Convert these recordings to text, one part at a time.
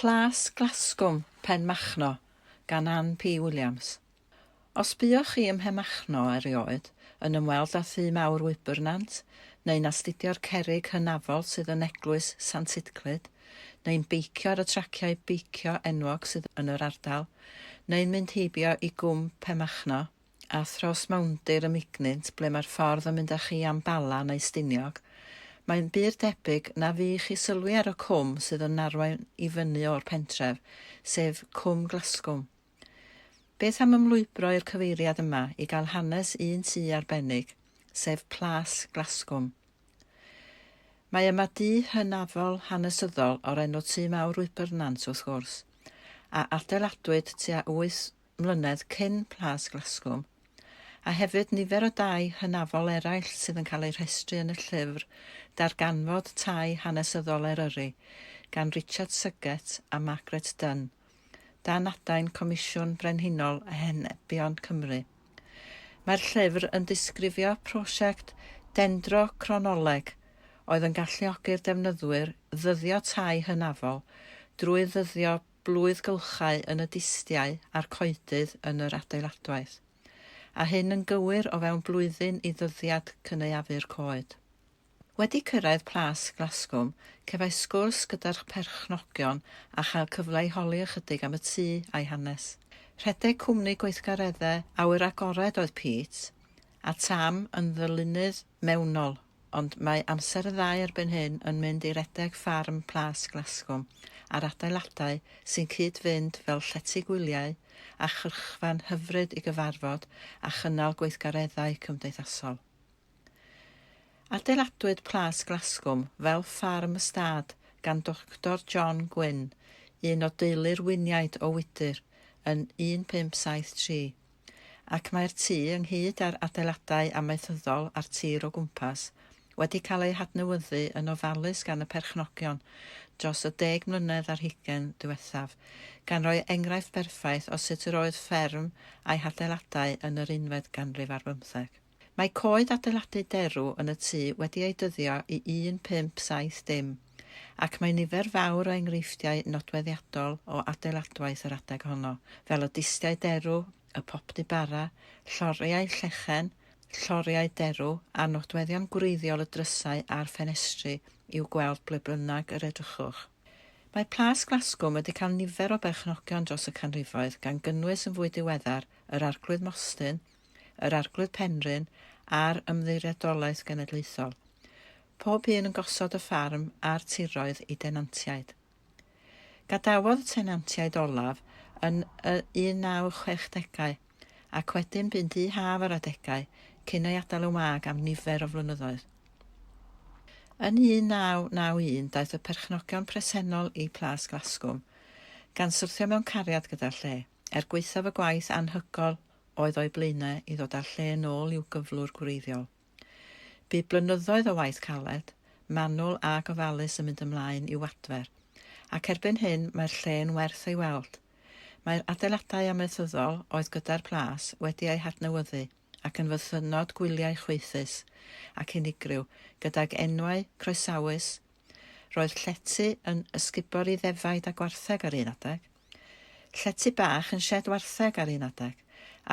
Plas Glasgwm, Pen Machno, gan Ann P Williams. Os buoch chi ym Mhenmachno erioed, yn ymweld â thŷ mawr wybr nant, neu'n astudio'r cerrig hynafol sydd yn Eglwys Sant Sitclyd, neu'n beicio ar y traciau beicio enwog sydd yn yr ardal, neu'n mynd heibio i Gwm Penmachno, a thros mawndir y mignynt ble mae'r ffordd yn mynd â chi am Bala neu Stiniog, mae'n bur debyg na fu i chi sylwi ar y cwm sydd yn arwain i fyny o'r pentref, sef Cwm Glasgwm. Beth am ymlwybro i'r cyfeiriad yma i gael hanes un tŷ arbennig, sef Plas Glasgwm. Mae yma dŷ hynafol hanesyddol o'r enw Tŷ Mawr Wybernant, wrth gwrs, a adeiladwyd tua 800 mlynedd cyn Plas Glasgwm, a hefyd nifer o dai hynafol eraill sydd yn cael eu rhestru yn y llyfr Darganfod Tai Hanesyddol Eryri gan Richard Suggett a Margaret Dunn, dan adain Comisiwn Brenhinol Henebion Cymru. Mae'r llyfr yn disgrifio prosiect dendrochronoleg oedd yn galluogi'r defnyddwyr ddyddio tai hynafol drwy ddyddio blwyddgylchau yn y distiau a'r coedydd yn yr adeiladwaith, a hyn yn gywir o fewn blwyddyn i ddyddiad cynaeafu'r coed. Wedi cyrraedd Plas Glasgwm, cefais sgwrs gyda'r perchnogion a chael cyfle i holi ychydig am y tŷ a'i hanes. Rhedeg cwmni gweithgareddau awyr agored oedd Pete, a Tam yn ddylunydd mewnol. Ond mae amser y ddau erbyn hyn yn mynd i redeg ffarm Plas Glasgwm a'r adeiladau sy'n cyd-fynd fel llety gwyliau a chyrchfan hyfryd i gyfarfod a chynnal gweithgareddau cymdeithasol. Adeiladwyd Plas Glasgwm fel ffarm ystâd gan Doctor John Gwynne, un o deulu'r Wyniaid o Wydir, yn 1573. ac mae'r tŷ, ynghyd â'r adeiladau amaethyddol a'r tir o gwmpas, wedi cael eu hadnewyddu yn ofalus gan y perchnogion dros y deg mlynedd ar hugain ddiwethaf, gan roi enghraifft berffaith o sut yr oedd fferm a'i hadeiladau yn yr unfed ganrif ar bymtheg. Mae coed adeiladu derw yn y tŷ wedi eu dyddio i 1570, ac mae nifer fawr o enghreifftiau nodweddiadol o adeiladwaith yr adeg honno, fel y distiau derw, y popty bara, lloriau llechen, lloriau derw, a'r nodweddion gwreiddiol y drysau a'r ffenestri i'w gweld ble bynnag yr edrychwch. Mae Plas Glasgwm wedi cael nifer o berchnogion dros y canrifoedd, gan gynnwys yn fwy diweddar yr Arglwydd Mostyn, yr Arglwydd Penrhyn a'r Ymddiriedolaeth Genedlaethol, pob un yn gosod y ffarm a'r tiroedd i denantiaid. Gadawodd y tenantiaid olaf yn y 1960au ac wedyn bu'n dŷ haf ar adegau cyn ei adael yn wag am nifer o flynyddoedd. Yn 1991 daeth y perchnogion presennol i Plas Glasgwm, gan syrthio mewn cariad gyda'r lle, er gwaethaf y gwaith anhygoel oedd o'i blaenau i ddod â'r lle yn ôl i'w gyflwr gwreiddiol. Bu blynyddoedd o waith caled, manwl a gofalus yn mynd ymlaen i'w adfer, ac erbyn hyn mae'r lle yn werth ei weld. Mae'r adeiladau amaethyddol oedd gyda'r plas wedi eu hadnewyddu ac yn fythynnod gwyliau chwaethus ac unigryw gydag enwau croesawus, roedd llety yn ysgubor i ddefaid a gwartheg ar un adeg. Llety bach yn sied wartheg ar un adeg,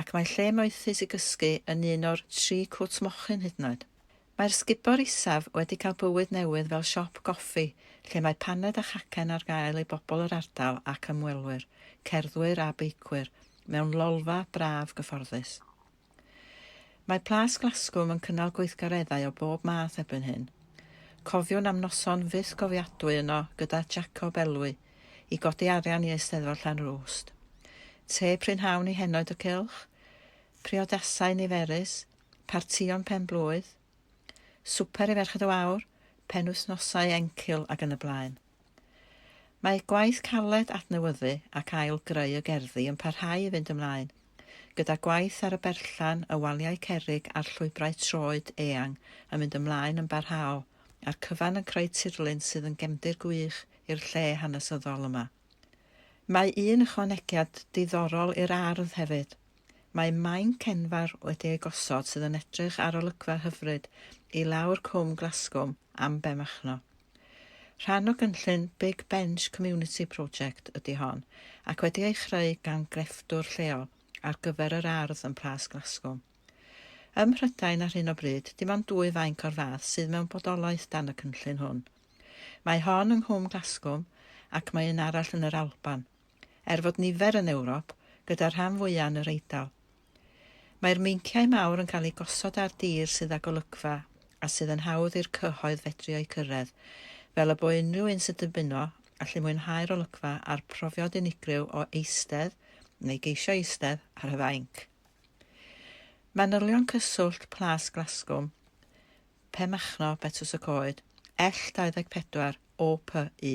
ac mae lle moethus i gysgu yn un o'r tri cwt mochyn hyd yn oed. Mae'r sgubor isaf wedi cael bywyd newydd fel siop goffi lle mae paned a chacen ar gael i bobl yr ardal ac ymwelwyr, cerddwyr a beicwyr, mewn lolfa braf gyfforddus. Mae Plas Glasgwm yn cynnal gweithgareddau o bob math erbyn hyn. Cofiwn am noson fyth gofiadwy yno gyda Jacob Elwy i godi arian i Eisteddfod Llanrwst. Te prynhawn i henoed y cylch, priodasau niferus, partïon pen-blwydd, swper i Ferched y Wawr, penwythnosau encil ac yn y blaen. Mae gwaith caled adnewyddu ac ail-greu y gerddi yn parhau i fynd ymlaen, gyda gwaith ar y berllan, y waliau cerrig a'r llwybrau troed eang yn mynd ymlaen yn barhaol, a'r cyfan yn creu tirlun sydd yn gefndir gwych i'r lle hanesyddol yma. Mae un ychwanegiad diddorol i'r ardd hefyd. Mae mainc enfawr wedi ei gosod sydd yn edrych ar olygfa hyfryd i lawr Cwm Glasgwm am Benmachno. Rhan o gynllun Big Bench Community Project ydy hon, ac wedi ei chreu gan grefftwr lleol ar gyfer yr ardd yn Plas Glasgow. Ym Mhrydain ar hyn o bryd, dim ond dwy fainc o'r fath sydd mewn bodolaeth dan y cynllun hwn. Mae hon yng Nghwm Glasgwm ac mae un arall yn yr Alban. Er fod nifer yn Ewrop, gyda'r rhan fwya' yn yr Eidal, Mae'r meinciau mawr yn cael eu gosod ar dir sydd â golygfa a sydd yn hawdd i'r cyhoedd fedru o'u cyrraedd, fel y bo unrhyw un sy'n dymuno allu mwynhau'r olygfa a'r profiad unigryw o eistedd, neu geisio eistedd, ar y fainc. Manylion Cyswllt Plas Glasgwm, Pen Machno, Betws y Coed, ell 24, OPU.